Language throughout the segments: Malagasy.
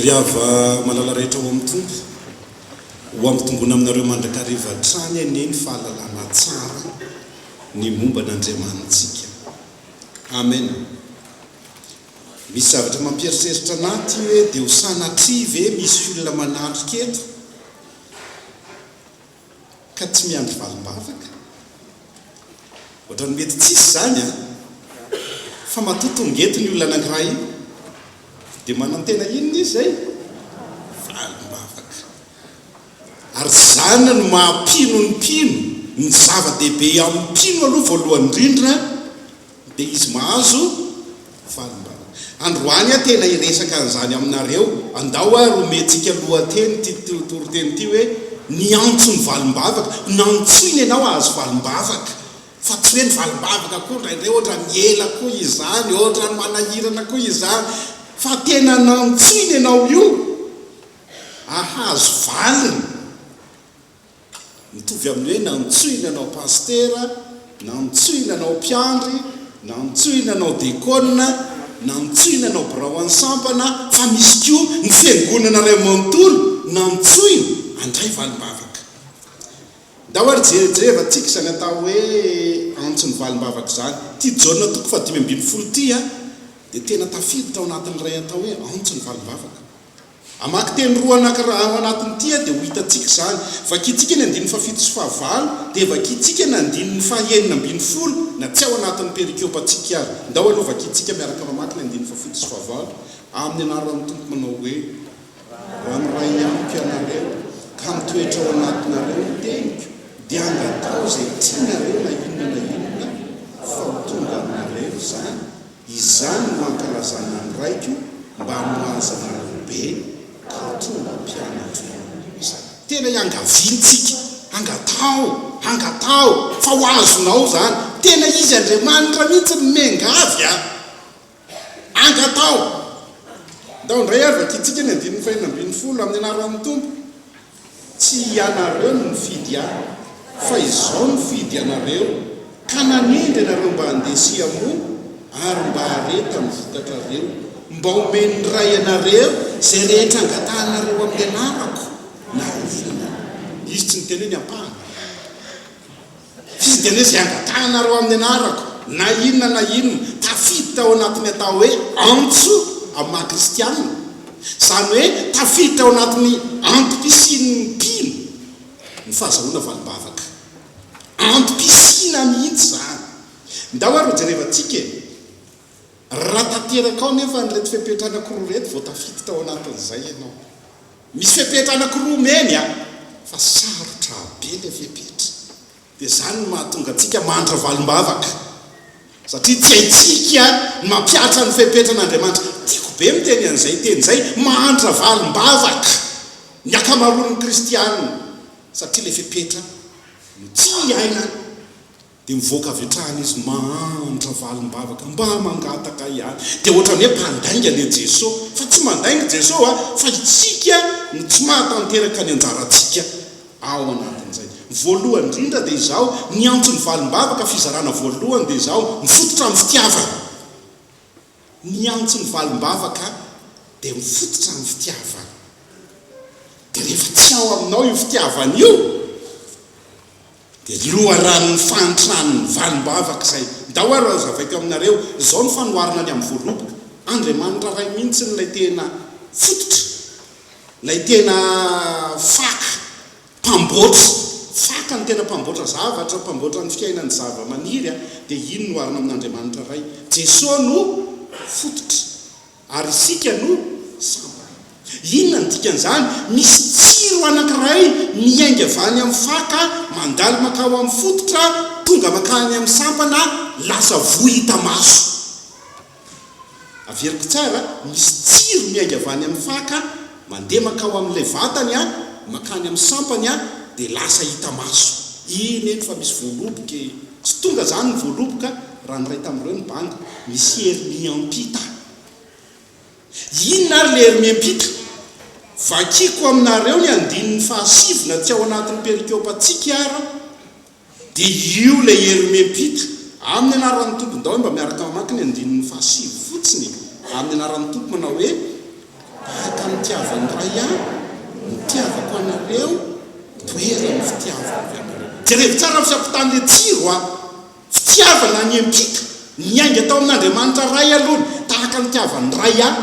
Ry hava malala rehetra ao amin'ny Tompo, ho hampitombona aminareo mandrakariva hatrany anie ny fahalalana tsara ny momba an'Andriamanitsika. Amena. Misy zavatra mampieritreritra anà ity hoe dia ho sanatria ve misy olona manatrika eto? ka tsy miandry valim-bavaka? Ohatran'ny mety tsisy izany an! Fa matoa tonga eto ny olona anankiray io, dia manantena inona izy izay? Valim-bavaka! Ary izany no maha mpino ny mpino, ny zava-dehibe eo amin'ny mpino aloha voalohany indrindra, Dia izy mahazo fahalalana. Androany aho tena hiresaka an'izany aminareo, andao ary homentsika lohateny ity toriteny ity hoe, Ny Antso ny Valim-bavaka. Nantsoina ianao hahazo valim-bavaka, fa tsy hoe ny valim-bavaka koa indraindray ohatran'ny ela koa izany, ohatran'ny manahirana koa izany, fa tena nantsoina ianao io hahazo valiny. Mitovy amin'ny hoe nantsoina anao pasitera, nantsoina anao mpiandry, nantsoina anao dekôna, nantsoina anao birao an'ny sampana, fa misy koa ny fiangonana iray manontolo nantsoina handray valim-bavaka. Ndao ary jerejerevantsika izany atao hoe antson'ny valim-bavaka izany. Ity Jaona toko fahadimy ambin'ny folo ity dia tena tafiditra ao anatin'ilay atao hoe antson'ny valim-bavaka. Hamaky teny roa anankiray ao anatin'ity aho dia ho hitantsika izany. Vakintsika ny andininy fahafito sy fahavalo, dia vakintsika ny andininy fahenina ambin'ny folo na tsy ao anatin'ny perikiopantsika aza. Ndao aloha vakintsika miaraka mamaky ny andininy fahafito sy fahavalo amin'ny anaran'ny Tompo manao hoe, Raha miray amiko ianareo ka mitoetra ao anatinareo ny teniko, dia angataho izay tianareo na inona na inona, fa ho tonga aminareo izany. Izany no ankalazana ny raiko mba nohazavanao be kaotrou mba mpianatro ihany koa izahay. Tena iangaviantsika, angataho, angataho fa ho azonao izany. Tena izy Andriamanitra mihitsy no miangavy an! Angataho! Ndao indray ary vakintsika ny andininy fahenina ambin'ny folo, amin'ny anaran'ny Tompo. Tsy ianareo no nifidy ahy, fa Izaho no nifidy anareo, ka nanendry anareo mba handeha sy hihamoa, ary mba hare tamin'ny vokatrareo, mba homen'ny Ray anareo izay rehetra angatahanareo amin'ny anarako, na rovina na. Izy tsy niteny hoe ny ampahany. F'izy dia nisy angatahana amin'ny anarako, na inona na inona, tafiditra ao anatin'ny atao hoe antso amin'ny maha kristianina, izany hoe tafiditra ao anatin'ny antom-pisian'ny mpino ny fahazahoana valim-bavaka. Antom-pisiana mihitsy izany. Ndao ary hojerevantsika e! Raha tanteraka ao anefa an'ireto fepetra anankiroa ireto vao tafiditra ao anatin'izay ianao. Misy fepetra anakiroa omeny a! Fa sarotra be ilay fepetra. Dia izany no mahatonga antsika mandra valim-bavaka. Satria tsy haintsika ny mampihatra ny fepetran'Andriamanitra. Tiako be miteny an'izay teny izay, mandra valim-bavaka ny ankamaroan'ny kristiana. Satria ilay fepetra no tsy iainany. Dia mivoaka avy hatrany izy mahantra valim-bavaka mba mangataka ihany. Dia ohatran'ny hoe mpandainga le Jeso. Fa tsy mandainga Jeso a! Fa itsika no tsy mahatanteraka ny anjarantsika ao anatin'izay. Voalohany indrindra dia izaho niantso ny valim-bavaka fizarana voalohany dia izaho mifototra amin'ny fitiavana. Niantso ny valim-bavaka dia mifototra amin'ny fitiavana. Dia rehefa tsy ao aminao io fitiavana io. Dia ny loharanon'ny fahantrany ny valim-bavaka izay ndao ary hazavaiko aminareo, izao no fanoharana ny amin'ny voaloboka, Andriamanitra Ray mihitsy ilay tena fototra, ilay tena faka, mpamboatra, faka no tena mpamboatra zavatra, mpamboatra ny fiainan'ny zava-maniry, dia iny no oharina amin'Andriamanitra Ray, Jesoa no fototra. Ary isika no sambany. Inona no dikan'izany? Misy tsiro anankiray miainga avy any amin'ny faka, mandalo mankao amin'ny fototra, tonga mankany amin'ny sampana, lasa voa hita maso. Averiko tsara, misy tsiro miainga avy any amin'ny faka, mandeha mankao amin'ilay vatany, mankany amin'ny sampany, dia lasa hita maso. Eny, eny, fa misy voaloboka e! Tsy tonga izany ny voaloboka raha ny iray tamin'ireo nibanga. Misy hery miampita. Inona ary ilay hery miampita? Vakiko aminareo ny andininy fahasivy na tsy ao anatin'ny perikôpantsika ara dia io ilay hery miampita. Amin'ny anaran'ny Tompo, ndao hoe mba miaraka mamaky ny andininy fahasivy fotsiny e! Amin'ny anaran'ny Tompo manao hoe. Tahaka ny nitiavan'ny Ray ahy, nitiavako anareo, mitoetra ny fitiavako anareo. Jerevo tsara ny fiampitan'ilay jiro a! Fitiavana niampita, niainga tao amin'Andriamanitra Ray alohany, tahaka ny nitiavan'ny Ray ahy.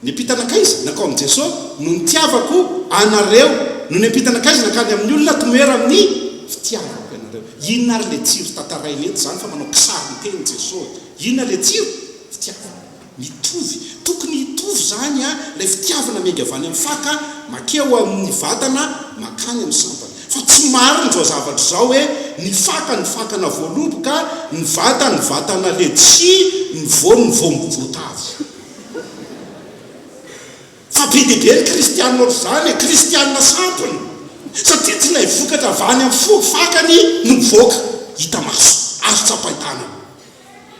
Niampita nankaiza? Nankao amin'i Jesoa, no nitiavako anareo, no niampita nankaiza? Nankany amin'ny olona, tomoera amin'ny fitiavako anareo. Inona ary ilay jiro tantaraina eto izany fa manao kisarin-teny Jesoa e? Inona ilay jiro? Fitiavana. Mitovy, tokony hitovy izany a, ilay fitiavana miainga avy any amin'ny faka makea ho amin'ny vatana mankany amin'ny sampana. Fa tsy marina izao zavatra izao hoe ny faka ny fakana voaloboka, ny vata ny vatana letchis, ny voany ny voangy voatavo. Fa be dia be ny kristianina ohatr'izany e, kristianina sampona, satria tsy ilay vokatra avy any amin'ny fo fakany no mivoaka hita maso, azo tsapain-tanana.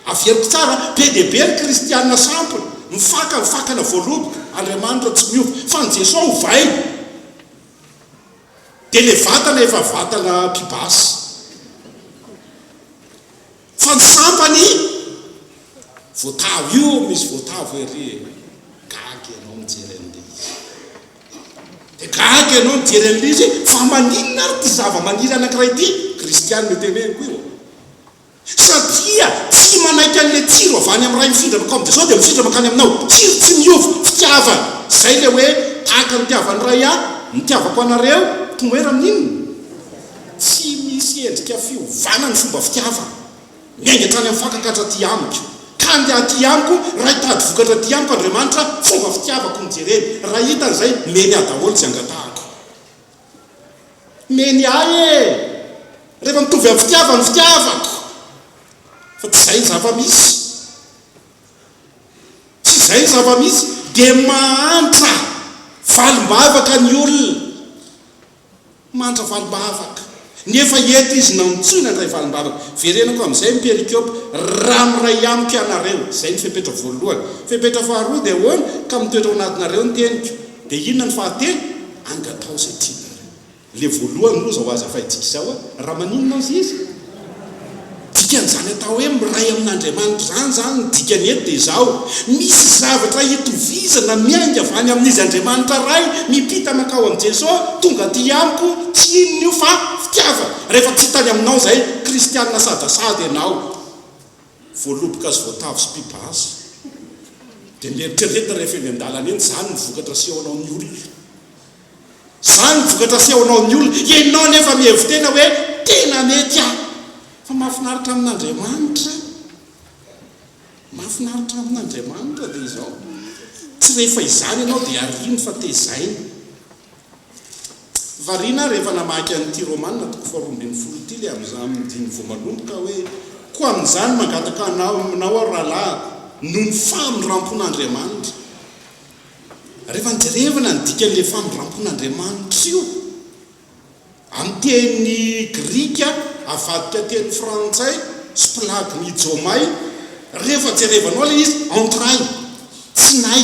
Averiko tsara, be dia be ny kristiana sampona, mifaka ny fakana voaloboka, Andriamanitra tsy miova, fa ny Jeso ovaina, dia ilay vatana efa vatana pibasy, fa ny sampany voatavo, io misy voatavo ery e, gaga ianao mijery an'ilay izy, dia gaga ianao mijery an'ilay izy hoe fa maninona ary ity zava-maniry anankiray ity, kristiana io teneniko io, Satria tsy manaiky an'ilay tsiro avy any amin'ny Ray mifindra mankao amin'i Jesoa dia mifindra mankany aminao. Tsiro tsy miova, fitiavana. Izay ilay hoe tahaka ny tiavan'ny Ray ahy, nitiavako anareo, tomoera amin'inona? Tsy misy endrika fiovana ny fomba fitiavana. Miainga hatrany amin'ny fankakatra aty amiko. Ka andeha aty amiko, Ray tady vokatra aty amiko Andriamanitra, fomba fitiavako no jereny. Raha hitany izay, mety aho daholo tsy angatahako. Meny ahy e! Rehefa mitovy amin'ny fitiavany fitiavako fa tsy izay ny zava-misy. Tsy izay ny zava-misy dia mahantra valim-bavaka ny olona. Mahantra valim-bavaka. Nefa eto izy nantsoina handray valim-bavaka. Verenako amin'izay ny perikope, Raha miray amiko ianareo. Izay ny fepetra voalohany. Fepetra faharoa dia ahoana? Ka mitoetra ao anatinareo ny teniko. Dia inona ny fahatelo? Angataho izay tiana ary. Ilay voalohany loza ho azy afahintsika izao a! Raha maninona aza izy? Dikan'izany atao hoe miray amin'Andriamanitra izany izany, ny dikany eto dia izao, misy zavatra itovizana miainga avy any amin'Izy Andriamanitra Ray mipita mankao amin'i Jesoa tonga aty amiko, tsy inona io fa fitiavana. Rehefa tsy tany aminao izay, kristiana asadasady ianao. Voaloboka azy voatavo sy pipa azy. Dia mieritrereta rehefa eny an-dalana eny, izany no vokatra asehonao ny olona. Izany no vokatra asehonao ny olona. Ianao anefa mihevi-tena hoe, Tena mety aho. Fa mahafinaritra amin'Andriamanitra, mahafinaritra amin'Andriamanitra dia izao, tsy rehefa izany ianao dia ariany fa tezainy. Variana aho rehefa namaky an'ity Romana toko faharoa ambin'ny folo ity le amin'izany diny voalohany ka hoe, Koa amin'izany mangataka anao aminao aho rahalahiko, noho ny famindrampon'Andriamanitra. Rehefa nijerevana ny dikan'le famindrampon'Andriamanitra io amin'ny teny grika avadika teny frantsay splagnidzomai, rehefa jerevanao le izy entrailles, tsinay.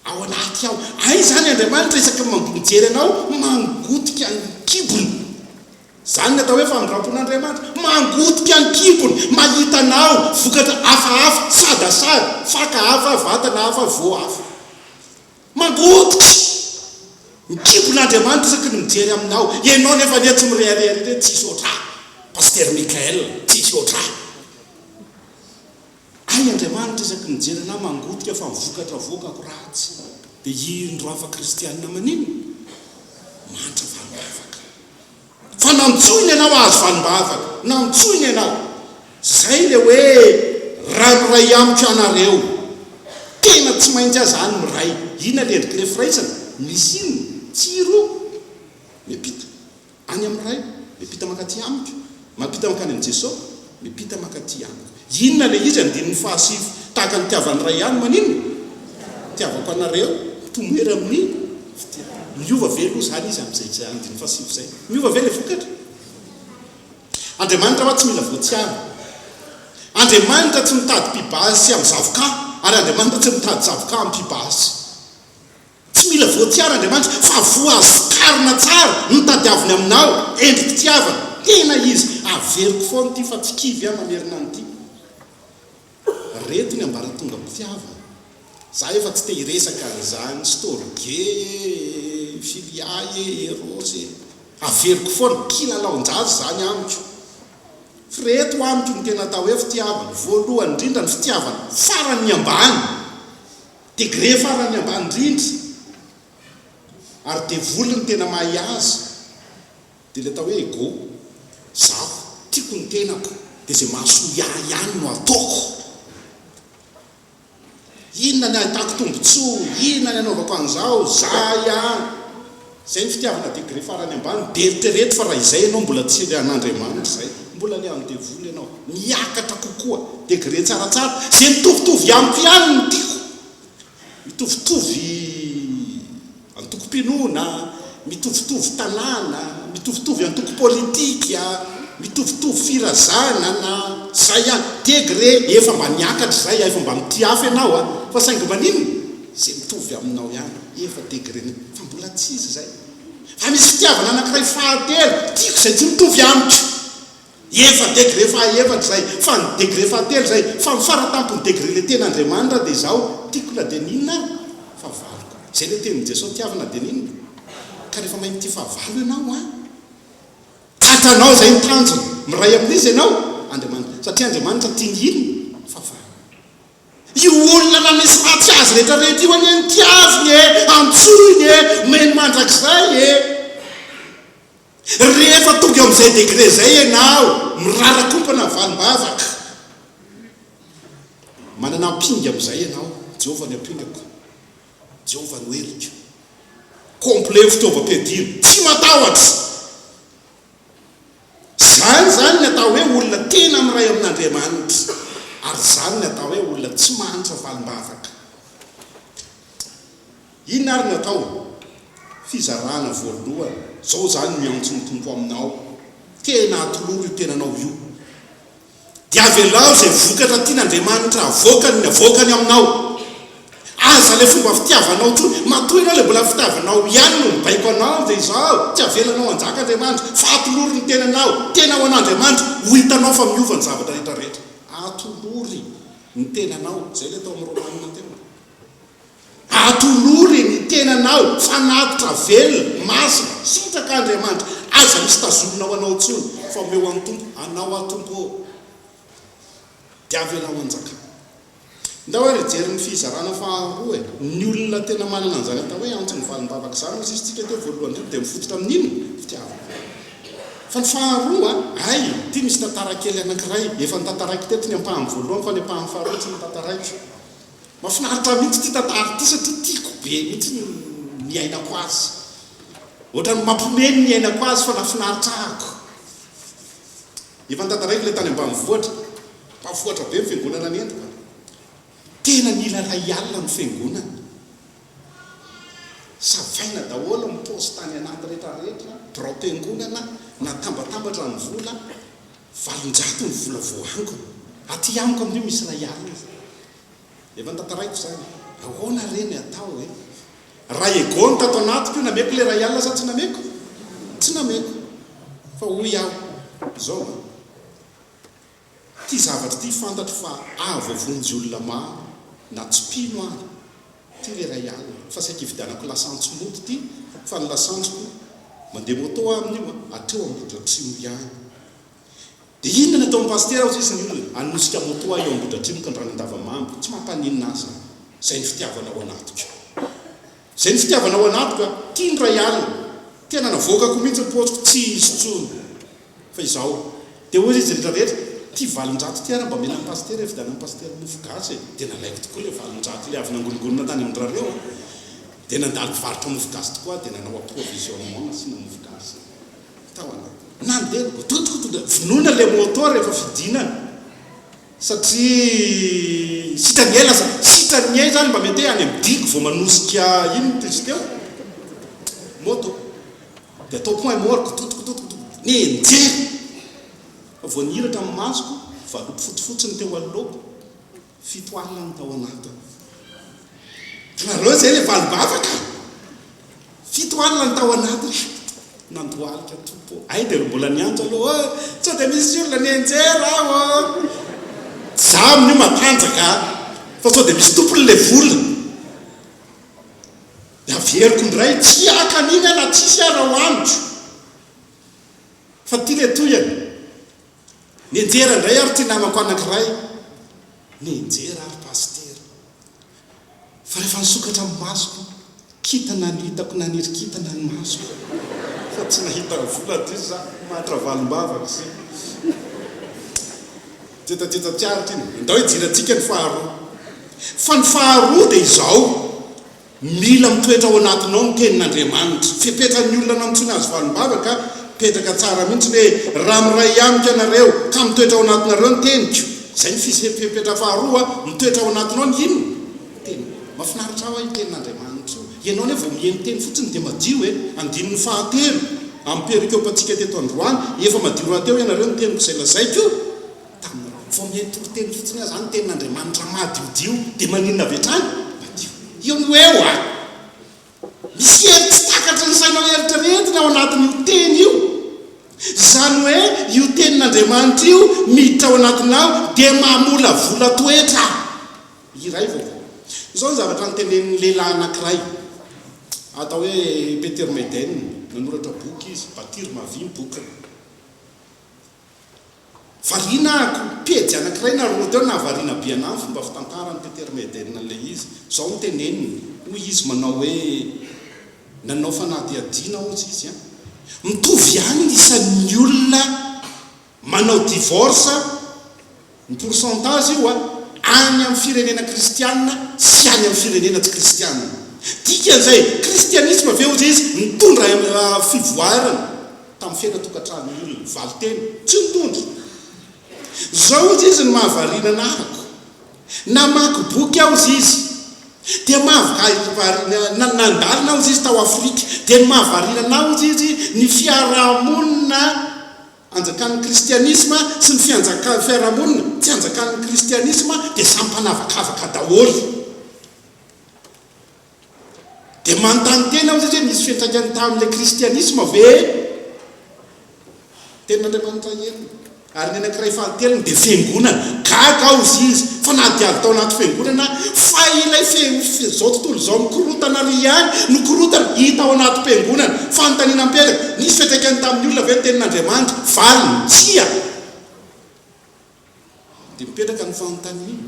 Ao anaty ao. Hay izany Andriamanitra isaky ny mampijery anao mangotika ny kibony. Izany ny atao hoe famindrampon'Andriamanitra. Mangotika ny kibony, mahita anao, vokatra hafahafa, sadasada, faka hafa, vatana hafa, voa hafa. Mangotika ny kibon'Andriamanitra isaky ny mijery aminao. Ianao nefa anie tsy mirehareha ry re, tsisy hoatrà. Pasitera Michael, tsisy hoatrà. Hainy Andriamanitra isaky ny mijery anà mangotika fa ny vokatra avoakako ratsy. Dia hirin'ny roafa kristianina maninona? Mahantra valim-bavaka. Fa nantsoiny ianao hahazo valim-bavaka. Nantsoiny ianao. Izay ilay hoe raha miray amiko ianareo. Tena tsy maintsy aza any miray. Inona ilay endrik'ilay firaisana? Misy inona? Tsiro? Miampita. Any amin'ny Ray, miampita mankaty amiko, mampita mankany amin'i Jesosy, miampita mankaty amiko. Inona ilay izy? Andininy fahasivy, tahaka ny nitiavan'ny Ray ahy ny maninona? Nitiavako anareo, mitomoera amin'ny fitiavana. Miova ve aloha izany izy amin'izay andininy fahasivy izay? Miova ve ilay vokatra? Andriamanitra hoa tsy mila voatsiary. Andriamanitra tsy mitady mpibaha sy amin'ny zavoka, ary Andriamanitra tsy mitady zavoka amin'ny mpibaha sy. Tsy mila voatsiara Andriamanitra fa voaskarina tsara ny tadiaviny aminao, endri-pitiavana, tena izy, averiko foana ity fa tsy kivy aho mamerina an'ity, reto ny ambaratongam-pitiavana, za efa tsy te hiresaka an'izany, storge e, philia e, eros e, averiko foana, kilalaon-jaza izany amiko, fa reto amiko ny tena atao hoe fitiavana, voalohany indrindra ny fitiavana faran'ny ambany, Degré farany ambany indrindra ary devoly ny tena mahay azy dia ilay atao hoe ego, izaho tiako ny tenako dia izay mahasoa ahy ihany no ataoko, inona ny ahitako tombotsoa, inona ny anaovako an'izao, izaho ihany. Izay ny fitiavana degré farany ambany dia eritrereto fa raha izay ianao mbola tsy ry an'Andriamanitra izay mbola le an'i devoly ianao, miakatra kokoa degré tsaratsara ze mitovitovy amiko ihany no tiako, mitovitovy antokom-pinoana, mitovitovy tanàna, mitovitovy antoko politika, mitovitovy firazana na zay ihany degré efa mba niakatra izay aho efa mba mitia hafa ianao a fa saingy maninona? Ze mitovy aminao ihany efa degrenao fa mbola tsy izy zay fa misy fitiavana anakiray fahatelo tiako zay tsy mitovy amiko efa degre fahaefatra zay fa ny degre fahatelo zay fa ny faratampony degre le tena Andriamanitra de zaho tiako na de n'inona ary fahavaloko zay le tenin'i Jesoa tiavo na de n'inona ka refa mahay mitia fahavalo ianao an tratranao zay ny tanjona miray amin'iza ianao Andriamanitra satria Andriamanitra tia ny inona fahavalo. Io olona nanisy faty azy rehetra rehetra io anie notiaviny e! Antsoiny e! Omeny mandrakizay e! Rehefa tonga eo amin'izay degré izay ianao, mirarakompana valim-bavaka. Manana ampinga amin'izay ianao, Jehovah ny ampingako, Jehovah no heriko. Complet ny fitaovam-piadiana, tsy matahotra. Izany izany ny atao hoe olona tena miray amin'Andriamanitra, ary izany ny atao hoe olona tsy mahantra valim-bavaka. Inona ary ny atao? Fizarana voalohany, izao izany ny antson'ny Tompo aminao, tena atoloro io tenanao io. Dia avelao izay vokatra tian' Andriamanitra havoakany ny havoakany aminao. Aza ilay fomba fitiavanao intsony. Matoa ianao ilay mbola fitiavanao ihany no mibaiko anao dia izao, tsy avelanao hanjaka Andriamanitra fa atolory ny tenanao tena ho an' Andriamanitra, ho hitanao fa miova ny zavatra rehetra rehetra. Atolory ny tenanao, izay ilay tao amin'ny Romanina teo. Atolory ny tenanao fanatitra velona, masina, sitraka Andriamanitra, aza misy tazomina ho anao intsony fa omeo an'ny Tompo anao aho Tompo ô! Dia avelao hanjaka. Ndao ary hijery ny fizarana faharoa e! Ny olona tena manana an'izany atao hoe antso ny valim-bavaka izany nosisintsika teo voalohany teo dia mifototra amin'ny inona? Fitiavana. Fa ny faharoa an! Hay! Ity misy tantara kely anankiray efa notantaraiko teto ny ampahany voalohany fa ny ampahany faharoa tsy notantaraiko. Mafinaritra mihitsy ity tantara ity satria tiako be mihitsy ny niainako azy. Ohatran'ny mampiomehy ny niainako azy fa nafinaritra ahako. Efa nitantaraiko ilay tany ambanivohitra. Mpahafohatra be ny fiangonana nentiko a! Tena nila iray alina ny fiangonana. Savaina daholo ny paosy tany anaty rehetra rehetra, biraom-piangonana, natambatambatra ny vola. Valonjato ny vola voaangona. Aty amiko amin'io misy iray alina izay. Efa notantaraiko izany. Ahoana re ny atao e? Raha Egon tato anatiko io nameko ilay iray alina sa tsy nameko? Tsy nameko. Fa hoy aho, izao va? Ity zavatra ity fantatro fa avo avonjy olona maro na tsy mpino ary. Ty le ray alina fa saika hividianako lasantsy moto ty fa ny lasantsiko mandeha moto aminy io hatreo Ambohidratrimo ihany de inona ny ataon'i Pasitera hozy izy ny olona hanosika moto ahy eo Ambohidratrimo ka ny rano Andavamamba tsy mampaninona ahy zany zay ny fitiavana ao anatiko zay ny fitiavana ao anatiko a! ty ny ray alina tena navoakako mihitsy ny paosiko tsy hisy intsony Fa izao Dia hoy izy rehetra rehetra, ity valin-drato ity ary mba omena an'i Pasitera e, vidianan'i Pasitera mofo gasy e, dia nalaiko tokoa ilay valin-drato ilay avy nangoringonina tany amin-dRareo a, dia nandalo mpivarotra mofo gasy tokoa aho dia nanao approvisionnement nasiana mofo gasy tao anaty, nandeha dododododo, vonona ilay moto rehefa fidinana satria sitrany ela zany, sitrany ela zany mba mety hoe any amin'ny digo vao manosika iny ny piste eo, moto. Dia atao point mort kototokototokotoko. Ny nijery fa vao nihiratra ny masoko, valopy fotsifotsy ny teo anoloako, fito alina ny tao anatiny. Hitanareo izay ilay valom-bavaka? Fito alina ny tao anatiny. Nandohalika topo. Hay dia mbola niantso aloha hoe, sao dia misy olona nianjera ao ô? Izaho amin'io matanjaka fa sao dia misy tompon'ilay vola. Dia averiko indray, tsy haka an'iny aho na tsisy aza ho haniko. Fa ity ilay tohiny, Nianjera indray ary ity namako anankiray. Nianjera ary Pasitera. Fa rehefa nisokatra ny masoko, kintana no hitako, naniry kintana ny masoko. Fa tsy nahita vola aty za, matra valim-bavaka sy jetajeta tsy aritra iny. Andao hijery antsika ny faharoa. Fa ny faharoa dia izao, Mila mitoetra ao anatinao ny tenin'Andriamanitra. Fepetra ny olona nantsoiny azy valimbava ka mipetraka tsara mihitsy ny hoe, Raha miray amiko ianareo ka mitoetra ao anatinareo ny teniko. Izay ny fepetra faharoa, mitoetra ao anatinao ny inona? Ny teniko. Mafinaritra hoa io tenin'Andriamanitra io. Ianao anie vao miheno teny fotsiny dia madio e! Andininy fahatelo amin'ny perikopantsika teto androany, Efa madio rahateo ianareo ny teniko izay lazaiko. Tamin'ny rajoinge toko teny fotsiny aza ny tenin'Andriamanitra madiodio dia maninona avy hatrany? Madio. Io no eo a! Misy hery tsy takatry ny sainao eritreretina ao anatin'io teny io. Izany hoe io tenin'Andriamanitra io miditra ao anatinao dia mamolavola toetra. Iray vaovao. Izao ny zavatra notenenin'ny lehilahy anankiray atao hoe Peter Maiden, nanoratra boky izy, Bâtir ma vie, ny bokiny. Variana ako, pejy anankiray na roa teo nahavariana be anah ny fomba fitantaran'i Peter Maiden an'ilay izy. Izao no teneniny, hoy izy manao hoe, Nanao fanadihadiana hozy izy an! Mitovy ihany ny isan'ny olona manao divorce Ny pourcentage io an, any amin'ny firenena kristianina sy any amin'ny firenena tsy kristianina. Dikan'izay, kristianisma ve hozy izy nitondra fivoarana tamin'ny fiainan-tokantrano io ny valinteny? Tsy nitondra. Izao hozy izy ny mahavariana anahako, namaky boky aho hozy izy, dia mahavariana, nandalina aho hozy izy tao Afrika, dia ny mahavariana anah hozy izy ny fiarahamonina, Anjakan'ny kristianisma sy ny fianjakan'ny fiarahamonina tsy anjakan'ny kristianisma dia samy mpanavakavaka daholo. Dia manontany tena aho izay hoe nisy fiantraikany tamin'ilay kristianisma ve ny tenin'Andriamanitra enina ary ny anankiray falintelony dia fiangonana? Gaga aho izay izy fa nahadiavy tao anaty fiangonana aho fa ilay izao tontolo izao mikorotana ary ihany no korotana hita ao anatim-piangonana. Fanontaniana mipetraka. Nisy fiantraikany tamin'ny olona ve ny Tenin'Andriamanitra? Valiny, Tsia! Dia mipetraka ny fanontaniana,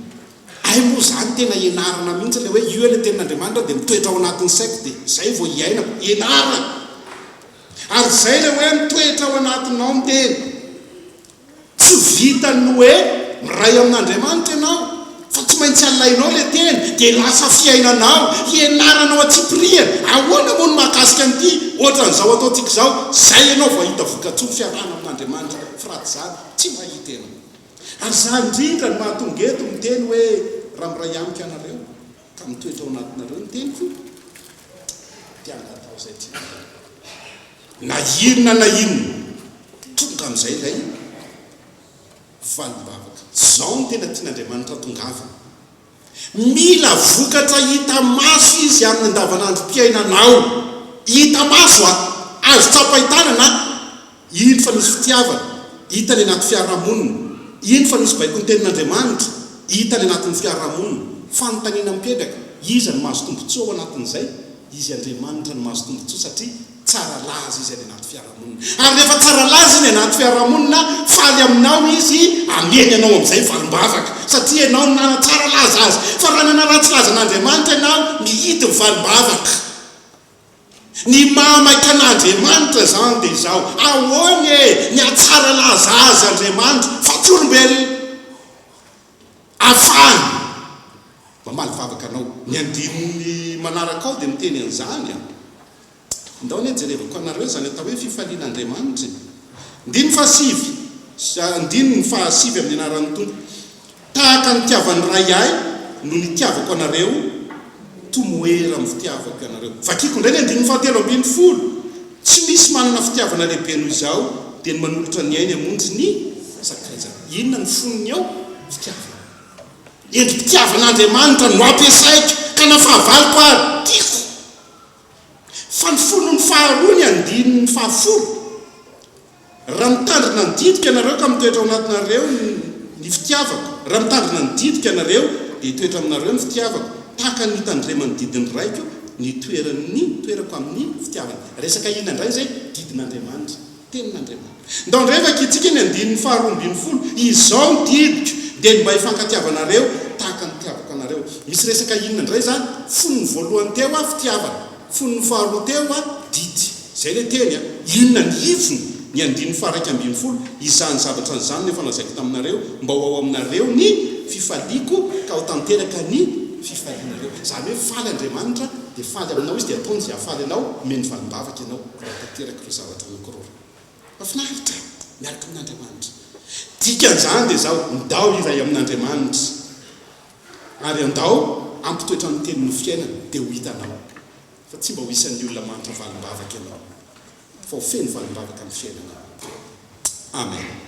Hay moa izany tena ianarana mihitsy ilay hoe io ilay Tenin'Andriamanitra dia mitoetra ao anatin'ny saiko dia izay vao iainako? Ianarana! Ary izay ilay hoe mitoetra ao anatinao ny Teny. Tsy vitan'ny hoe miray amin'Andriamanitra ianao fa tsy maintsy alainao ilay teny dia lasa fiainanao, hianaranao antsipirihany ahoana moa ny mahakasika an'ity ohatran'izao ataontsika izao, izay ianao vao hahita vokatsoa ny fiarahana amin'Andriamanitra fa raha tsy izany tsy mahita ianao. Ary izany indrindra no mahatonga eto miteny hoe raha miray amiko ianareo ka mitoetra ao anatinareo ny teniko dia hangatao izay tianareo. Na inona na inona, tonga amin'izay ilay valim-bavaka. Izao no tena tian'Andriamanitra tongavana. Mila vokatra hita maso Izy amin'ny andavanandrom-piainanao. Hita maso a! Azo tsapain-tanana a! Iny fa misy fitiavana, hita any anaty fiarahamonina. Iny fa misy baikon'ny Tenin'Andriamanitra, hita any anatin'ny fiarahamonina. Fanontaniana mipetraka, iza no mahazo tombontsoa ao anatin'izay? Izy Andriamanitra no mahazo tombontsoa satria tsara laza Izy any anaty fiarahamonina. Ary rehefa tsara laza Izy anaty fiarahamonina, faly aminao Izy, ameny anao amin'izay valim-bavaka, satria ianao no nanatsara laza Azy. Fa raha nanaratsy laza an'Andriamanitra ianao, mihidy ny valim-bavaka. Ny maha-maika an'Andriamanitra izany dia izao, ahoana e? Mihatsara laza Azy Andriamanitra, fa tsy olombelona. afahany mamaly vavaka anao. Ny andininy manaraka ao dia miteny an'izany an. Indao anie jerevako anareo izany atao hoe fifaliana Andriamanitra e. Andininy fahasivy sy andininy fahasivy amin'ny anaran'ny Tompo. Tahaka ny nitiavan'ny Ray ahy no nitiavako anareo. Tomoera amin'ny fitiavako ianareo. Vakiko indray ny andininy fahatelo ambin'ny folo, Tsy misy manana fitiavana lehibe noho izao dia ny manolotra ny ainy hamonjy ny sakaizany. Inona no fonony ao? Fitiavana. Endri-pitiavan'Andriamanitra no ampiasaiko ka na fahavaloko ary, tiako. Fa ny fonony faharoa ny andininy fahafolo. Raha mitandrina ny didiko ianareo ka mitoetra ao anatinareo ny fitiavako, raha mitandrina ny didiko ianareo dia hitoetra aminareo ny fitiavako, tahaka ny nitandreman'ny didin'ny Raiko ny toeran'ny toerako amin'ny fitiavany. Resaka inona indray izay? Didin'Andriamanitra, Tenin'Andriamanitra. Ndao indray vakintsika ny andininy faharoa ambin'ny folo, Izao ny didiko, dia ny mba hifankatiavana anareo tahaka ny nitiavako anareo. Misy resaka inona indray izany? Fony voalohany teo aho, fitiavana. Fonony faharoa teo a Didy. Izay ilay teny a. Inona ny hivony? Ny andininy faharaika ambin'ny folo, Izany zavatra izany no efa lazaiko taminareo, mba ho ao aminareo ny fifaliako, ka ho tanteraka ny fifalianareo. Izany hoe faly Andriamanitra, dia faly aminao Izy, dia ataony izay hahafaly anao, omeny valim-bavaka ianao raha tanteraka ireo zavatra anankiroa. Mahafinaritra e! Miaraka amin'Andriamanitra. Dikan'izany dia izao, Ndao iray amin'Andriamanitra. Ary andao hampitoetra ny tenin'ny fiainana dia ho hitanao fa tsy mba ho isan'ny olona mahantra valim-bavaka ianao fa ho feno valim-bavaka ny fiainanao. Amen.